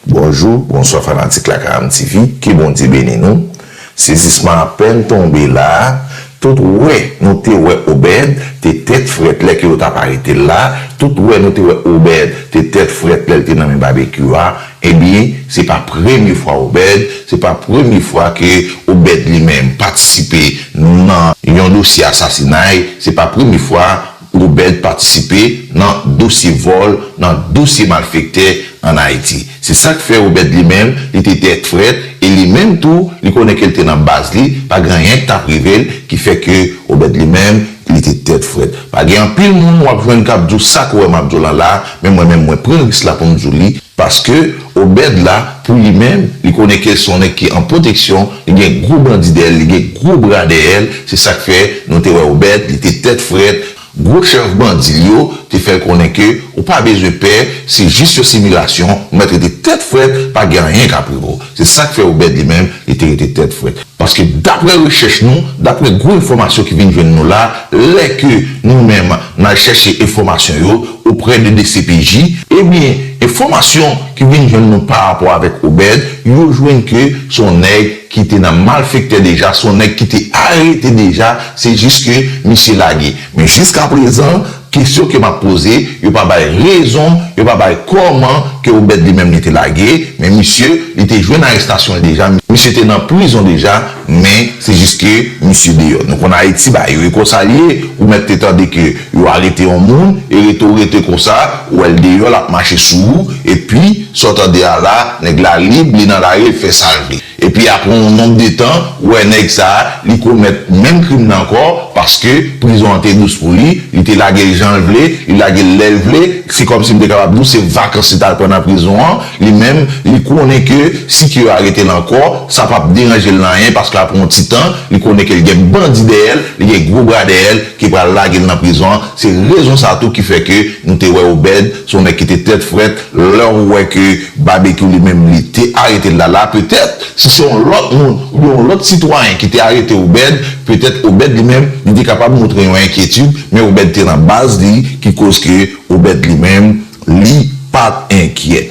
Bonjou, bonswa fanatik Lakayam TV, ke Bondye beni nou. Sezisman apèn tonbe la, tout wè nou te wè Obed te tèt frèt lè ke yo tap arete l la, tout wè nou te wè Obed te tèt frèt lè l te nan men Babekyou a, ebyen se pa premye fwa Obed, se pa premye fwa ke Obed li menm patisipe nan yon dosye asasinay, se pa premye fwa. Goubert patisipe nan dosye vòl, nan dosye malfektè an Ayiti. Se sa k fè Goubert li menm, li te tèt frèt e li menm tou, li konnen ke l te nan baz li, pa gen anyen k t ap rive l ki fè ke Goubert li menm, li te tèt frèt. Pa gen anpil moun w ap jwenn k ap di w sa ke w wè m ap di w lan la, men mwen menm mwen pran risk la pou m di w li paske, Obed la pou li menm li konnen kel son nèg ki an pwoteksyon li gen gwo bandi dèyè l li gen gwo bra dèyè l se sak fè nou te wè Obed li te tèt frèt gwo chèf bandi l yo te fè l konnen ke ou pa bezwen pè se jis yon similasyon ou mèt rete tèt frèt pa gen anyen kap rive w se sak fè Obed li menm li te rete tèt frèt. Paske daprè rechèch nou, daprè gwo enfòmasyon ki vin jwenn nou la, lè ke nou menm n al chèche enfòmasyon yo oprè de dcpj, ebyen enfòmasyon ki vin jwenn nou pa rapò avèk Obed, yo jwenn ke se yon nèg ki te nan malfektè deja, se yon nèg ki te arete deja, se jis ke misye lage. Men jiskaprezan. Kesyon ke map poze, yo pa bay rezon, yo pa bay kòman ke Obed li menm li te lage, men misye, li te jwenn arestasyon l deja, misye te nan prizon deja, men se jis ke misye deyò. Nou konn Ayiti bagay yo e konsa li ye, ou mèt te tande ke yo arete yon moun e rete w rete konsa, ou wè l deyò lap mache sou ou, epi sa w tande a la, nèg la lib, li nan lari, l fè sa l vle. Epi apre yon nonb de tan, wè nèg sa, li komèt menm krim nan ankò, paske prizon an te dous pou li, li te lage l jan l vle, li lage l lè l vle, se kòmsi m te kapab di w se vakans li t al pran nan prizon an, li menm, li konnen ke si ke yo arete l ankò, sa p ap deranje l nan anyen paske apre yon ti tan, li konnen ke l gen bandi dèyè l, li gen gwo bra dèyè l ki pral lage l nan prizon an, se rezon sa tou ki fè ke nou te wè Obèd se yon nèg ki te tèt frèt, Lè ou wè ke Babekyou li menm li te arete Lala, petèt si se yon lòt moun oubyen yon lòt sitwayen ki te arete Obed, petèt Obed li menm li te kapab montre yon enkyetid, men Obed te nan baz li ki koz ke Obed li menm li pat enkyè.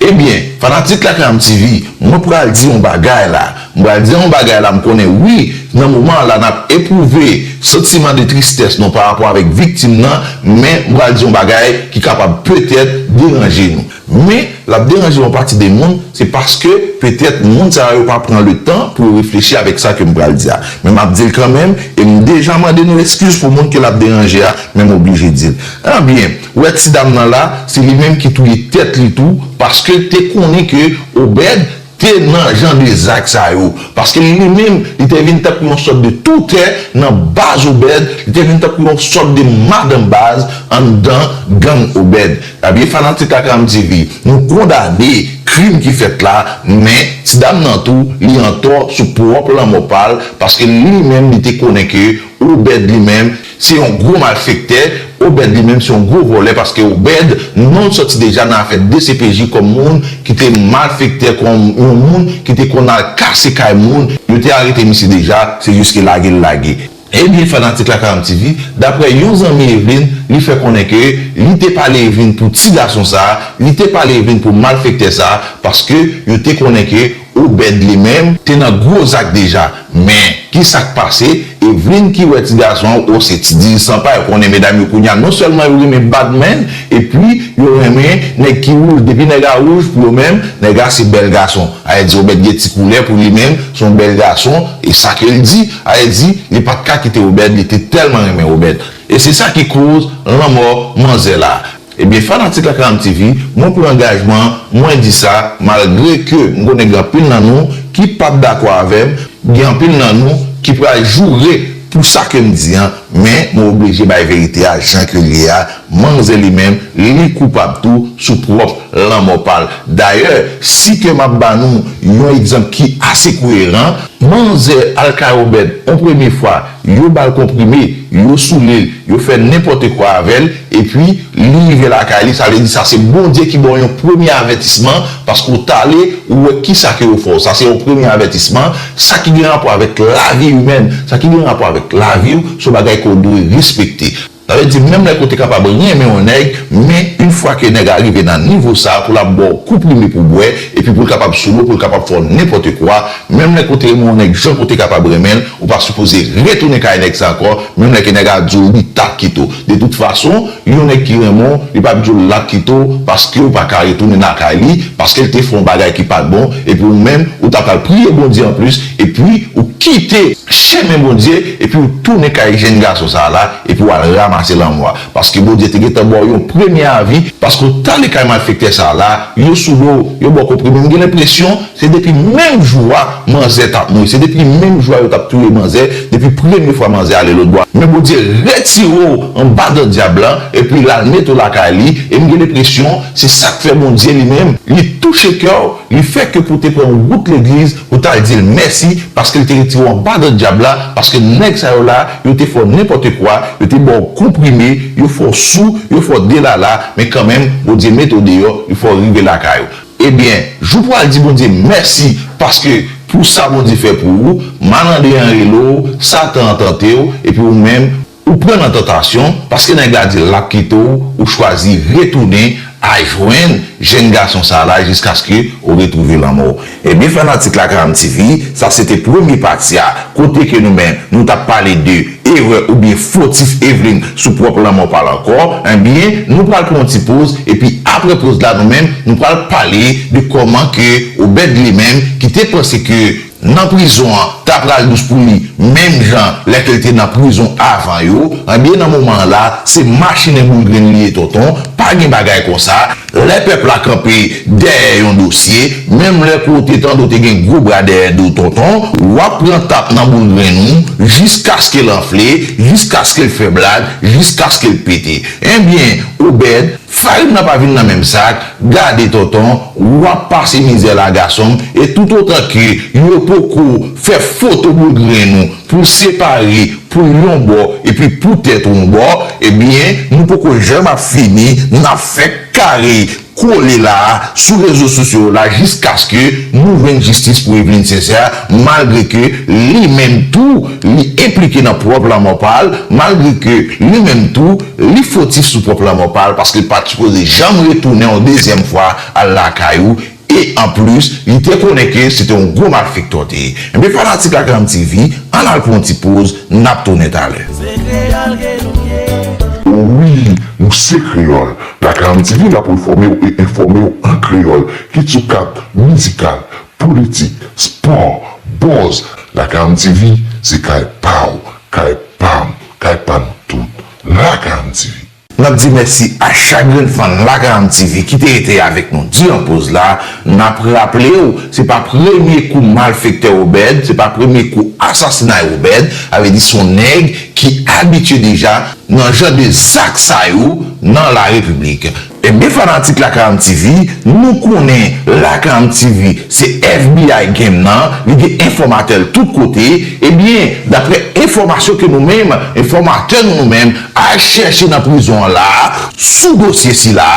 Ebyen, fanatik Lakay An'M TV, mwen pral di yon bagay la. M pral di yon bagay la m konnen wi nan moman an la nap epwouve santiman de tristès nou parapò avèk viktim nan men m pral di yon bagay ki kapab petèt deranje nou men lap deranje yon pati de moun se paske petèt moun sa yo pa pran le tan pou yo reflechi avèk sa ke m pral di a men map dil kanmenm e m deja mande nou eskiz pou moun ke lap deranje a men m oblije dil ebyen ou wè ti dam nan la se li menm ki touye tèt li tou paske te konnen ke Obed te nan jan de zak sa yo, paske li menm, li te vin tankou yon sòt de toutè nan baz Obed, li te vin tankou yon sòt de madan baz anndan gang Obed. Ebyen fanatik Akam TV, nou kondane krim ki fèt la, men ti dam nan tou, li antò sou pwòp lanmò pa l, paske li menm li te konnen ke Obed li menm, Se yon gwo malfektè, Obed li menm se yon gwo vòlè paske Obed non l sòti deja nan afè dcpj kòm moun ki te malfektè kòm yon moun ki te konn al kase kay moun, yo te arete misye deja se jis ke lage l lage. Ebyen fanatik Lakaranm TV, daprè yon zanmi Evlin, li fè konnen ke li te pale Evlin pou ti gason sa, li te pale Evlin pou malfektè sa paske yo te konnen ke Obed li menm te nan gwo zak deja men ki sak pase Evelyne ki wè ti gason an oh se ti diri san pay ou konnen medam yo kounya non sèlman yo renmen bad man epi yo renmen nèg ki wouj depi nèg a wouj pou yo menm nèg a se bèl gason ae di Obed gen ti koulè pou li menm son bèl gason e sa ke l di ae di li pat ka kite Obed li te tèlman renmen Obed e se sa ki koz lanmò manzè la. Ebyen fanatik Akanam TV, mwen pran angajman, mwen di sa, malgre ke m konnen gen anpil nan nou ki p ap dakò avè m, gen anpil nan nou ki pral joure pou sa ke m di an, men mwen oblije bay verite a jan ke l ye a, manmzè li menm, li koupab tou sou pwòp lanmò pa l. Dayè, si ke m ap ba nou yon egzanp ki ase koyeran, manmzè Alka Obed on premye fwa Yo ba l konprime, yo soule l, yo fè nenpòtekwa avè l, epi, li rive lakay li, sa vle di sa se Bondye ki ba w yon premye avètisman, paske w t ale, ou wè ki sa ke yo fè w. Sa se yon premye avètisman. Sa ki gen rapò avèk lavi imèn, sa ki gen rapò avèk lavi w, se yon bagay ke w dwe respekte. Sa vle di menm lè ke w te kapab renmen yon nèg, men yn fwa ke nèg la rive nan nivo sa, pou lap baw kou prime pou w bwè, epi pou l kapab sou l ou, pou l kapab fè w nenpòtekwa, menm lè ke w te renmen yon nèg jan ke w te kapab renmen l, ou pa sipoze retounen kay nèg sa ankò, menm lè ke nèg la di w li tap kite w. De tout fason, yon nèg ki renmen w, li pap di w lap kite w, paske w pa ka retounen nan kay li, paske l te fè yon bagay ki pat bon, epi ou menm, ou ta pral priye Bondye anplis, Epi ou kite chemen Bondye epi ou tounen kay jenn gason sa la epi ou al ramase lanmò a paske Bondye te gentan baw yon premye avi paske ou tale kay malfektè sa la yo sou dow yo baw konprime m gen lenpresyon se depi menm jou a manzè tap mouri se depi menm jou a yo tap touye manzè depi premye fwa manzè ale lotbò a men Bondye retire w anba dan dyab la epi lal mete w lakay li e m gen lenpresyon se sak fè Bondye li menm li touche kèw li fè ke pou te pran wout legliz Ou tal dil mèsi paskel te retire w anba dan dyab la paske nèg sa yo la yo te fè w nenpòte kwa yo te baw konprime yo fè w sou yo fè w delala men kanmenm Bondye mete w deyò yo fè w rive lakay ou ebyen jou pou al di Bondye mèsi paske pou sa Bondye fè pou ou malandren an rele w satan an tante w epi ou menm Ou pran nan tantasyon paske nèg la dil lap kite w ou chwazi retounen a jwenn jèn gason sa la jiskaske ou retwouve lanmò w. Ebyen fanatik Lakayam TV sa se te premye pati a kote ke nou menm nou tap pale de erè oubyen fotif Evlin sou pwòp lanmò pa l ankò ebyen nou pral pran yon ti poz epi aprè poz la nou menm nou pral pale de kòman ke Obed li menm ki te panse ke nan prizon an ta pral dous pou li menm jan lè ke l te nan prizon avan yo ebyen nan moman an la se machinen boul grenn li ye tonton pa gen bagay konsa lè pèp la kanpe dèyè yon dosye menm lè ke w te tande w te gen gwo bra dèyè do w tonton w ap pran tap nan boul grenn ou jiskaske l anfle jiskaske l fè blag jiskaske l pete ebyen Obed Farin nan pa vin nan menm sak, gade tonton, wap pase mizè la gasonm, e tout otan ke yo poko fè foto boul grenn ou pou separe poul yon bò epi pou tèt ou yon bò, ebyen nou poko janm ap fini, nap fè kare kole la sou rezo sosyo yo la jiskaske nou jwenn jistis pou Evelyne Sincère malgre ke li menm tou li enplike nan pwòp lanmò pal, malgre ke li menm tou. Li fotif sou pwòp lanmò pa l paske l pa t sipoze janm retounen yon dezyèm fwa al lakay ou e anplis li te konnen ke se te yon gwo malfektè w te ye. Enben fanatik Akram TV, ann al pran yon ti poz, n ap tounen talè. Se kreyòl ke nou ye. O wi, nou se kreyòl. Lakram TV la pou l fòme w e enfòme w an kreyòl, kit sou kad mizikal, politik, spò, buzz, Lakram TV se kay pa w, kay pa m. Kay pa nou tout. Lakam TV. Nap di mèsi a chak grenn fan Lakam TV ki te rete avèk nou diran poz la. Nap raplew se pa premye kou malfektè Obed, se pa premye kou asasinay Obed, sa vle di son nèg ki abitye deja nan jan de zak sa yo nan la repiblik. Ebyen fanatik lakam TV nou konnen lakam TV se FBI game nan li gen enfòmatèl tout kote ebyen daprè enfòmasyon ke nou menm enfòmatè nou nou menm al chèche nan prizon an la sou dosye sila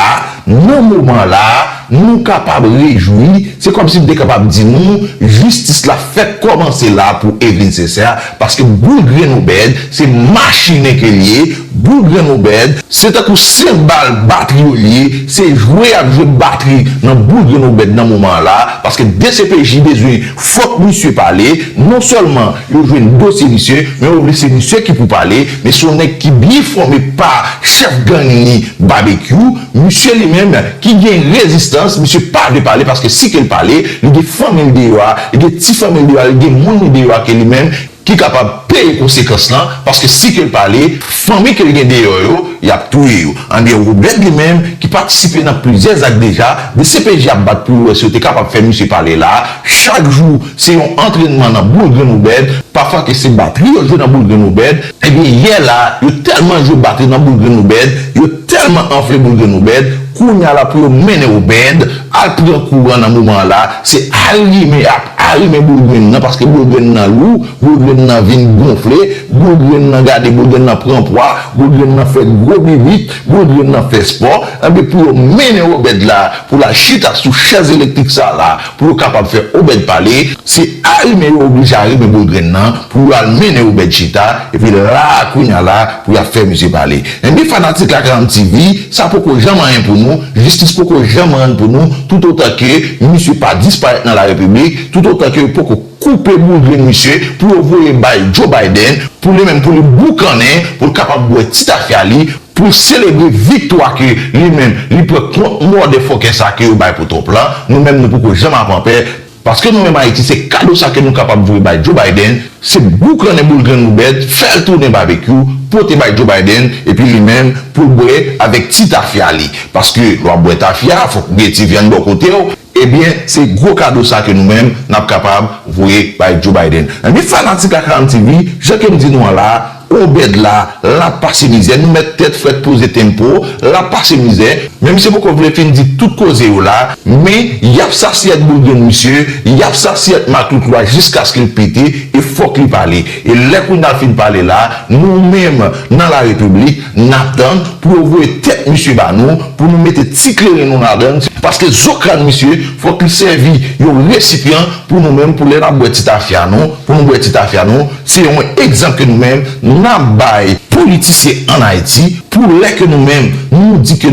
nan moman la nou kapab rejwi se kòmsi m te kapab di nou jistis la fèk kòmanse la pou Evelyne Sincère paske boul grenn Obed se machine ke l ye Boul grenn Obed, se tankou 5 bal batri yo ye, se jwe yap jwe batri nan boul grenn Obed nan moman an la, paske dcpj bezwen fòk misye pale, non sèlman yo jwenn dosye misye, men yo vle se misye ki pou pale, men son nèg ki byen fòme pa chèf gang li Babekyou, misye li menm ki gen rezistans, misye pa vle pale paske si kel pale, li gen fanmil deyò a, li gen ti fanmil deyò a, li gen moun li deyò a ke li menm. ki kapab peye konsekans lan paske si ke l pa ale fanmi ke l gen deyò yo y ap touye yo anbyen Robert li menm ki patisipe nan plizyè zak deja dcpj ap bat pou yo wè si yo te kapab fè misye pale la a chak jou se yon antrènman nan boul grenn Obed pafwa ke se batri yo jwe nan boul grenn Obed ebyen yè la a yo tèlman jwe batri nan boul grenn Obed yo tèlman anfle boul grenn Obed kounya la pou yo mennen Obed al pran kouran nan moman an la se al limen Ari men boul grenn nan paske boul grenn nan lou, boul grenn nan vin gonfle, boul grenn nan gade boul grenn nan pran pwa, boul grenn nan fè gwo bibit, boul grenn nan fè spò, enben pou yo mennen Obed la pou l al chita sou chèz elektrik sa la pou yo kapab fè Obed pale, se ari men yo oblije ari men boul grenn nan pou yo al mennen Obed chita, epi la a kounye a la pou y ap fè misye pale. Ebyen fanatik lakram TV sa poko janm anyen pou nou, jistis poko janm rann pou nou tout otan ke misye pa disparèt nan la repiblik, tout otan ke yo poko koupe boudrin misye pou yo voye bay Joe Biden pou li menm pou li boukannen pou l kapab bwè ti tafya li pou l selebre viktwa ke li menm li pran kont mòdè fòkè sa ke yo bay pou Trump lan nou menm nou poko janm ap anpè Paske nou renmen Ayiti se kado sa ke nou kapab voye bay Joe Biden, se boukannen boul grenn nou bèt, fèl tounen babekyou, pote bay Joe Biden, epi li menm poul bwè avèk ti tafya li. Paske lè wap bwè tafya, fòk ou gen ti vyann bò kotew, ebyen se gwo kado sa ke nou menm nap kapab voye bay Joe Biden. Ebyen fanatik Akram TV, jan kem di nou an la, Obed la, lap pase mizè, nou mèt tèt frèt poze tempo, lap pase mizè, men misye poko vle fin di tout koze yo la, men yap sasiyèt boulgrin misye, yap sasiyèt matout lwa jiskaske l pete e fòk li pale. E lè Kunal fin pale la, nou menm nan la repiblik nap tann pou yo voye tèt misye ba nou pou nou mete ti kleren nou ladan l, paske zo krann misye fòk li sèvi yon resipyan pou nou menm pou lè nap bwè ti tafya nou, pou nou bwè ti tafya nou. Se yon egzanp ke nou menm nap bay politisyen an Ayiti pou lè ke nou menm nou di ke